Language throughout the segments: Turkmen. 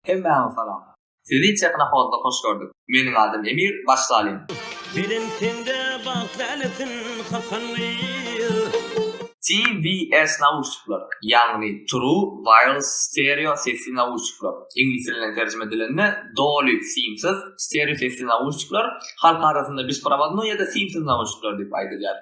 Hemmäňe salam. Sizi Tehnohodda hoş gördük. Meniň adym Emir, baş talim. Belent sende bagt lälesin hakan gyz. TWS nauşnikler, ýagny True Wireless Stereo sesli nauşnikler, iňlis dilinden terjime edilende doly simsiz stereo sesli nauşnikler, halk arasynda besprovadnoý ýa-da simsiz nauşnikler diýip aýdylýar.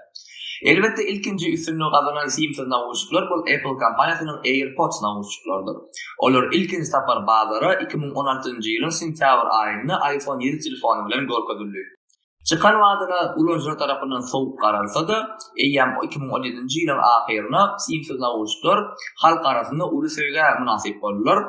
Elbetde ilkinji üstünligi gazanan simsiz nauşnikler bul Apple kompaniýasynyň AirPods nauşnikleridir. Olar ilkinji sapar bazara iki müň on altynjy ýylyň sentýabr aýynda iPhone ýedi telefony bilen görkezildi. Çykan badyna ulanyjylar tarapyndan sowuk garalsa-da, eýýäm iki müň on ýedinji ýylyň ahyryna simsiz nauşnikler halk arasynda uly söýgä mynasyp boldular.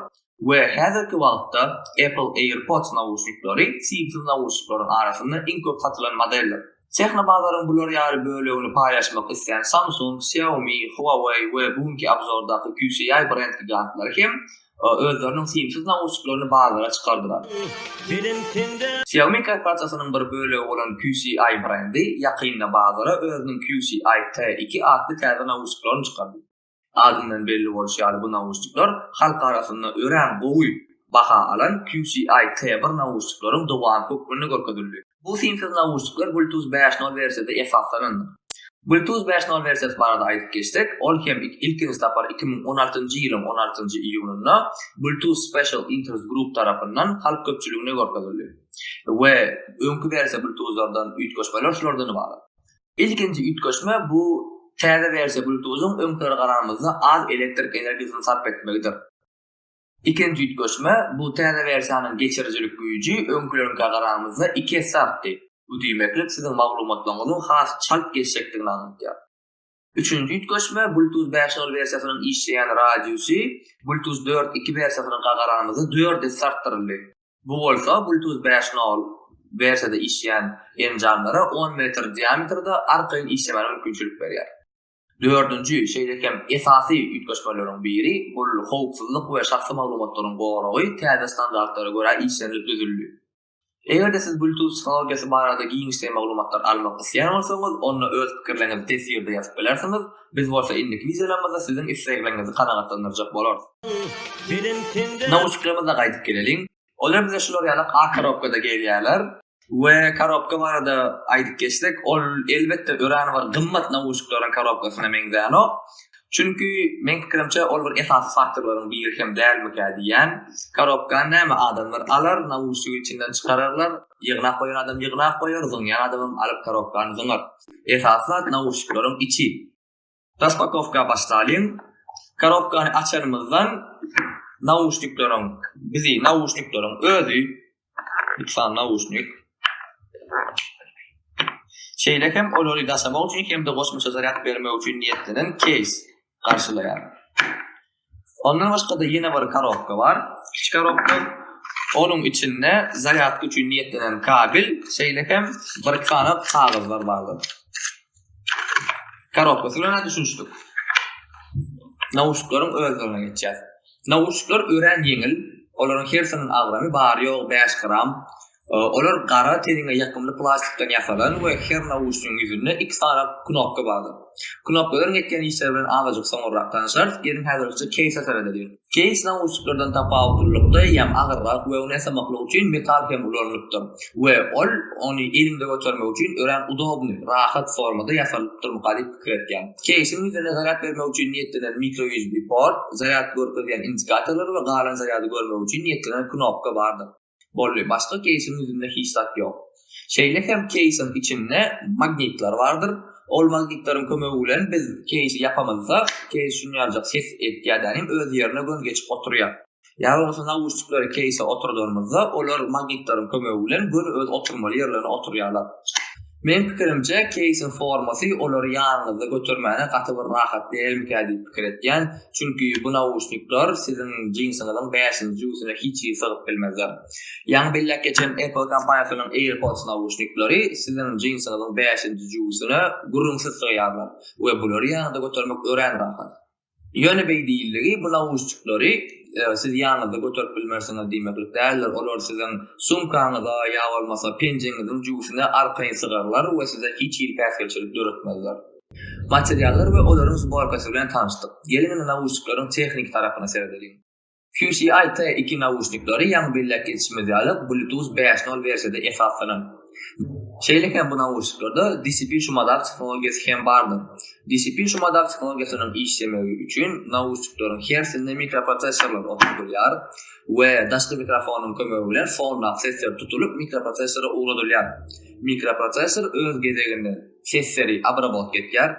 We häzirki wagtda Apple AirPods nauşniklary simsiz nauşniklaryň arasynda iň köp satylan modeldir. Tehnobazaryň bular ýaly bölegini paýlaşmak islän Samsung, Xiaomi, Huawei we bu günki abzordaky QCI brend gigantlary hem özleriniň simsiz nauşniklaryny bazara çykardylar. Xiaomi korporasiýasynyň bir bölegi bolan QCI brendi ýakynda bazara özüniň QCI T iki atly täze nauşniklaryny çykardy. Adyndan belli bolşy ýaly bu nauşnikler halk arasynda örän gowy baha alan QCI T bir nauşnikleriň dowamy hökmünde görkezildi. Bu simsiz nauşnikler Bluetooth bäş nol wersiýada esaslanandyr. Bluetooth bäş nol wersiýasy barada aýdyp geçsek, ol hem ilkinji sapar iki müň on altynjy ýylyň on altynjy iýunynda Bluetooth Special Interest Group tarapyndan halk köpçüligine görkezildi we öňki wersiýa Bluetooth-lardan üýtgeşmeler şulardan ybarat. Ilkinji üýtgeşme bu täze wersiýa Bluetooth-yň öňkülere garanymyzda az elektrik energiýasyny sarp etmegidir. Ikinji üýtgeşme bu täze wersiýanyň geçirijilik güýji öňküleriňkä garanymyzda iki esse artdy, bu diýmeklik siziň maglumatlaryňyzyň has çalt geçjekdigini aňladýar. Üçünji üýtgeşme Bluetooth bäş nol wersiýasynyň işleýän radiusy Bluetooth dört iki wersiýasynyňka garanymyzda dört esse artdyryldy. Bu bolsa Bluetooth bäş nol wersiýada işleýän enjamlara on metr diametrde arkaýyn işlemäne mümkinçilik berýär. Dördünji, şeýle hem esasy üýtgeşmeleriň biri, ol howpsuzlyk we şahsy maglumatlaryň goragy täze standartlara görä işlenilip düzüldi. Eger-de siz Bluetooth tehnologiýasy barada giňişleýin maglumatlar almak isleýän bolsaňyz, onda öz pikirleriňizi teswirde ýazyp bilersiňiz, Biz bolsa indiki wideolarymyzda siziň islegleriňizi kanagatlandyrjak bolarys. Nauşniklerimize gaýdyp geleliň. Olar bize şular ýalak ak korobkada gelýärler. We korobka barada aýdyp geçsek, ol elbetde örän bir gymmat nauşnikleriň korobkasyna meňzänok. Çünki meň pikirimçe ol bir esasy faktorlaryň biri hem dälmikä diýýän. Korobkany näme adamlar alar, naušnigi içinden çykararlar. Ýygnap goýan adam ýygnap goýar, zyňýan adamam alyp tarobkany zyňar. Esasy zat nauşnikleriň içi. Raspakowka başlalyň. Karobkany açanymyzdan nauşnikleriň bizi nauşnikleriň özi lütfan nauşnik Şeýle hem olary daşamak üçin hem-de goşmaça zarýad bermek üçin niýetlenen keýs garşylaýar. Ondan başga-da ýene bir korobka bar. Kiçi korobka. Onuň içinde zarýadka üçin niýetlenen kabel, şeýle hem bir sany kagyzlar bardyr. Korobkasy bilen düşünişdik. Nauşnikleriň özlerine geçýäs. Nauşnikler örän ýeňil. Olaryň hersiniň agramy bary-ýogy bäş gram. Olar gara teniňe ýakymly plastikden ýasalan we her nauşnigiň ýüzünde iki sany knopka bardyr. Knopkalaryň etýän işleri bilen azajyk soňurrak tanyşarys, geliň häzirlikçe keýse seredeli diýiň. Keýs nauşniklerden tapawutlylykda ýam agyrrak we ony ýasamaklyk üçin metal hem ulanylypdyr we ol ony eliňde götermek üçin örän udobnyý, rahat, formada ýasalypdyrmyka diýip pikir etýän. Keýsiň ýüzüne zarýad bermek üçin niýetlenen mikro USB port, zarýad görkezýän indikatorlar we galan zarýady görmek üçin niýetlenen knopka bardyr. Boldy, başga keýsiň ýüzünde hiç zat ýok. Şeýle hem keýsiň içinde magnitler bardyr. Ol magnitleriň kömegi bilen biz keýsi ýapamyzda, keýs şunýanjak ses edýär dänim, öz ýerine göni geçip oturýar. Ýa bolmasa nauşnikleri keýse oturdanymyzda, olar magnitleriň kömegi bilen göni öz oturmaly ýerlerine oturýarlar. Meň pikirimçe keýsiň formasy olary ýanyňyzda götermäne gaty bir rahat dälmikä diýip pikir etýän, çünki bu nauşnikler siziň jinsiňiziň bäşinji jübüsine hiç hili sygyp bilmezler. Ýaňy belläp geçen Apple kompaniýasynyň AirPods nauşnikleri siziň jinsiňiziň bäşinji jübüsine gürrüňsiz sygýarlar we bulary ýanyňyzda götermek örän rahat. Ýöne beý diýildigi, bu nauşniklary siz ýanyňyzda göterip bilmersiňiz diýmeklik däldir, olar siziň sumkaňyza ýa bolmasa penjeňiziň jübüsine arkaýyn sygarlar we size hiç hili päsgelçilik döretmezler. Materiallar we olaryň sborkasy bilen tanyşdyk. Geliň indi nauşnikleriň tehniki tarapyna seredeliň. QCI T iki nauşnikleri ýaňy belläp geçişimiz ýaly Bluetooth bäş nol wersiýada esaslanýan. Şeýle hem bu nauşniklerde DCP şumadap tehnologiýasy hem bardyr. DCP şumadap tehnologiýasynyň işlemegi üçin nauşnikleriň hersinde mikroprosessorlar oturdylýar we daşky mikrofonyň kömegi bilen fondap sesler tutulyp mikroprosessora ugradylýar. Mikroprosessor öz gezeginde sesleri abrabotk etýär.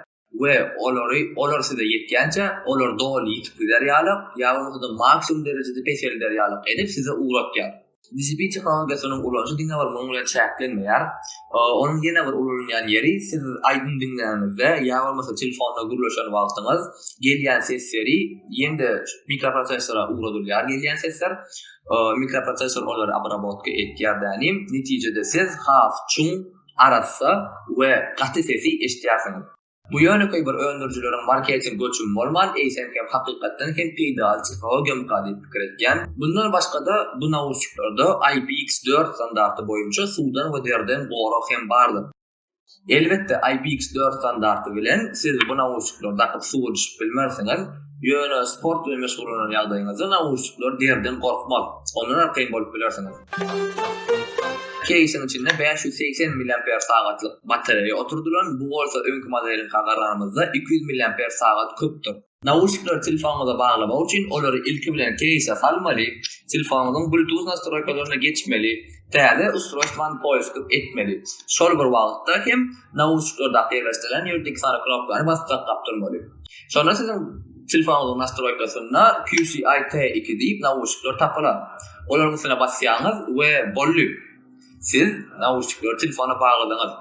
we olary olar size ýetýänçä, olar doly ýitip gider ýalak, ýa bolmasa-da maksimum derejede peselder ýalak edip size ugratýar. Dijipi tehnologiýasynyň ulanyşy diňe bir munuň bilen çäklenmeýär. Onuň ýene bir ulanylýan ýeri, siz aýdym diňläňizde, ýa bolmasa telefonda gürleşen wagtyňyz, gelýän sesleri ýene-de mikroprosessora ugradylýar gelýän sesler. Mikroprosessor olary obrabotka etýär dänim. Netijede siz has çuň arassa we gaty sesi eşidýärsiňiz. Bu ýönekeý bir öndürijileriň marketing göçümi bolman, eýsem hem hakykatdan hem peýdaly tehnologiýamyka diýip pikir etýän. Mundan başga-da, bu nauşniklarda IPX dört standarty boýunça suwdan we derden gorag hem bardyr. Elbetde, IPX dört standarty bilen siz bu nauşniklary dakyp suwa düşüp bilmersiňiz, ýöne sport bilen meşgullanan ýagdaýyňyzda nauşnikler derden gorkmaz, ondan arkaýyn bolup bilersiňiz. Keýsiň içinde bäş ýüz segsen milliamper sagatlyk batareýa oturdylan, bu bolsa öňki modeliňka garaganymyzda iki ýüz milliamper sagat köpdür. Nauşnikleri telefonyňyza baglamak üçin olary ilki bilen keýse salmaly, telefonyňyzyň bluetooth nastroýkalaryna geçmeli, täze ustrojstwany poýskyk etmeli. Şol bir wagtda hem nauşnikleri dakyp ýerleşdirilen ýerdeki sary knopkany basyp saklap durmaly. Şonda siziň. Telefonyňyzyň nastroýkasynda QCI T iki diýip nauşnikler tapylar. Olaryň üstüne basýaňyz we boldy. Siz nauşnikleri telefona bagladyňyz.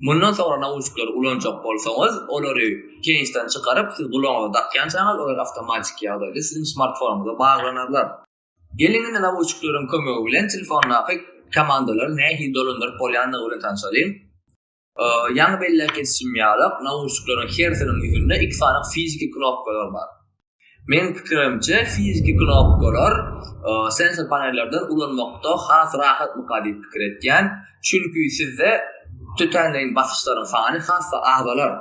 Mundan soňra nauşnikleri ulanjak bolsaňyz, olary keýsden çykaryp, siz gulagyňyza dakýançaňyz, olar awtomatiki ýagdaýda siziň smartfonyňyza baglanarlar. Geliň indi nauşnikleriň kömegi bilen telefondaky komandalary nähili dolandyryp bolýandygy bilen tanşalyň. Ýaňy belläp geçişim ýaly, nauşnikleriň hersiniň ýüzünde iki sany fiziki knopkalar bar. Meniň pikirimçe, fiziki knopkalar sensor panellerden ulanmakda has rahatmyka diýip pikir etýän, çünki sizde tötänleýin basyşlaryň sany has-da azalar.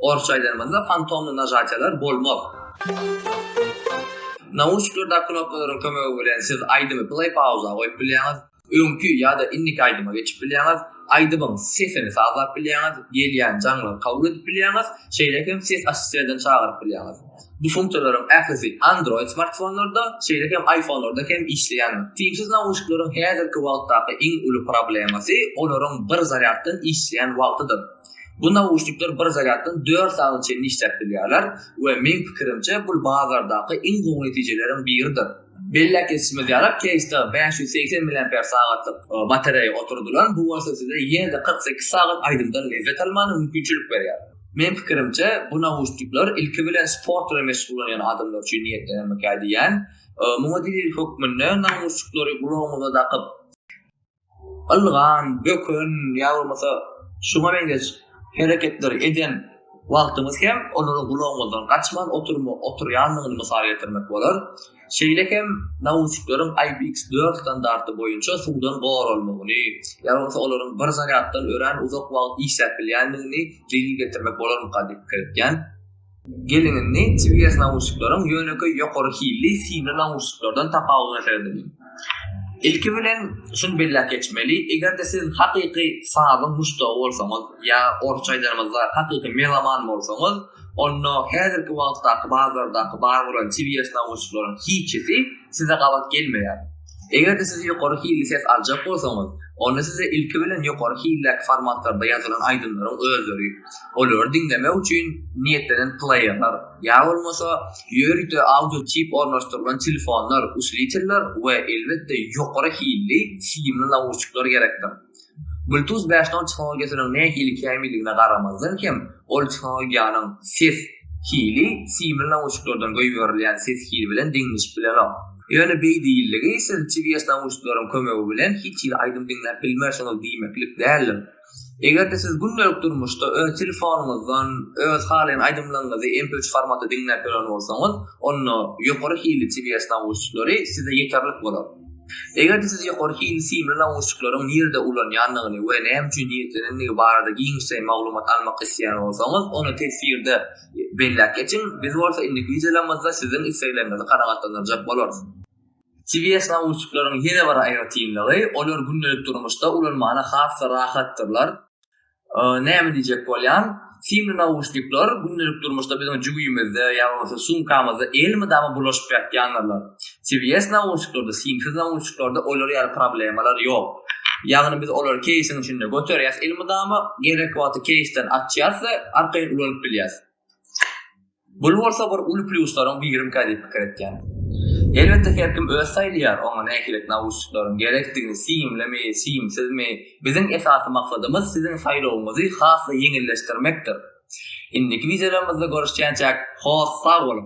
Orsça aýdanymyzda, fantomny najatiýalar bolmaz. Nauşniklerdäki knopkalaryň kömegi bilen siz aýdymy pleý-pauza goýup bilýäňiz, Öňki ýa-da indiki aýdyma geçip bilýäňiz. Aýdymyň sesini sazlap bilýäňiz, gelýän jaňlary kabul edip bilýäňiz, şeýle hem ses assisterden çagyryp bilýäňiz. Bu funksiýalaryň ählisi Android smartfonlarda, şeýle hem iPhone-larda hem işleýändir. Simsiz nauşnikleriň häzirki wagtdaky iň uly problemasy olaryň bir zarýaddan işleýän wagtydyr. Bu nauşnikler bir zarýaddan dört sagat çenli işläp bilýärler we meň pikirimçe bul bazardaky iň gowy netijeleriň biridir. Belläp geçişimiz ýaly, keýsde bäş ýüz segsen milliamper sagatlyk batareýa oturdylan, bu bolsa size ýene-de kyrk sekiz sagat aýdymdan lezzet almana mümkinçilik berýär. Meň pikirimçe, bu nauşnikler ilki bilen sport bilen meşgullanýan adamlar üçin niýetlenenmikä diýýän. Muňa delil hökmünde nauşnikleri gulagyňyza dakyp, ylgan, böken ýa bolmasa şuňa meňzeş hereketleri eden wagtyňyz hem olara gulagyňyzdan gaçman oturma oturýandygyny mysal getirmek bolar. Şeýle hem nauşnikleriň IPX4 standarty boýunça suwdan goralmagyny ýa bolmasa olaryň bir zarýaddan örän uzak wagt işläp bilýändigini delil getirmek bolarmyka diýip pikir etýän. Geliňizni TBS nauşnikleriň ýönekeý ýokary hilli simli nauşniklerden tapawudyna serediň. Ilki bilen şuny belläp geçmeli, eger-de siz hakyky sazyň muşdagy bolsaňyz ýa orsça aýdanymyzda hakyky meloman bolsaňyz, onda häzirki wagtdaky bazardaky bar bolan TBS nauşnikleriň hiçisi size gabat gelmeýär. Eger-de siz ýokary hilli ses aljak bolsaňyz, onda size ilki bilen ýokary hildäki formatlarda ýazylan aýdymlaryň özleri, olary diňlemek üçin niýetlenen pleýerler ýa bolmasa ýörite audio çip ornaşdyrylan telefonlar, uslitlýler we elbetde ýokary hilli simli nauşnikler gerekdir. Bluetooth bäş nol tehnologiýasynyň nähili kämilligine garamazdan hem, ol tehnologiýanyň ses hili simli nauşniklerden goýberilýän ses hili bilen deňleşip bilenok. Ýöne beýdiligi siz TVS nauşnikleriň kömegi bilen hiç hili aýdym diňläp bilmersiňiz diýmeklik däldir. Eger-de siz gündelik durmuşda öz telefonyňyzdan öz halaýan aýdymlaryňyzy MP üç formatda diňläp ýören bolsaňyz, onda ýokary hilli TVS nauşnikleri size ýeterlik bolar. Eger-de siz ýokary hilli simli nauşnikleriň nirede ulanýandygyny we näme üçin niýetlenendigi barada giňişleýin maglumat almak isleýän bolsaňyz, ony teswirde belläp geçiň, biz bolsa indiki wideolarymyzda siziň islegleriňizi kanagatlandyrjak bolarys. CBS nauşnikleriň ýene bir aýratynlygy, olar gündelik durmuşda ulanmana has-da rahatdyrlar. Näme diýjek bolýan? Simli nauşnikler gündelik durmuşda biziň jübimizde ýa bolmasa sumkamyzda elmydama bulaşyp ýatýandyrlar. CBS nauşniklerde, simsiz nauşniklerde olar ýaly problemalar ýok. Ýagny biz olary keýsiň içinde göterýäs elmydama, gerek wagty keýsden açýas we arkaýyn ulanyp bilýäs. Bul bolsa bir uly plýuslaryň birimikä diýip pikir etýän. Elbetde her kim öz saýlaýar oňa nähili nauşnikleriň gerekdigini, simlimi, simsizmi. Biziň esasy maksadymyz siziň saýlawyňyzy has-da ýeňilleşdirmekdir. Indiki wideolarymyzda görüşýänçäk, hoss sag boluň!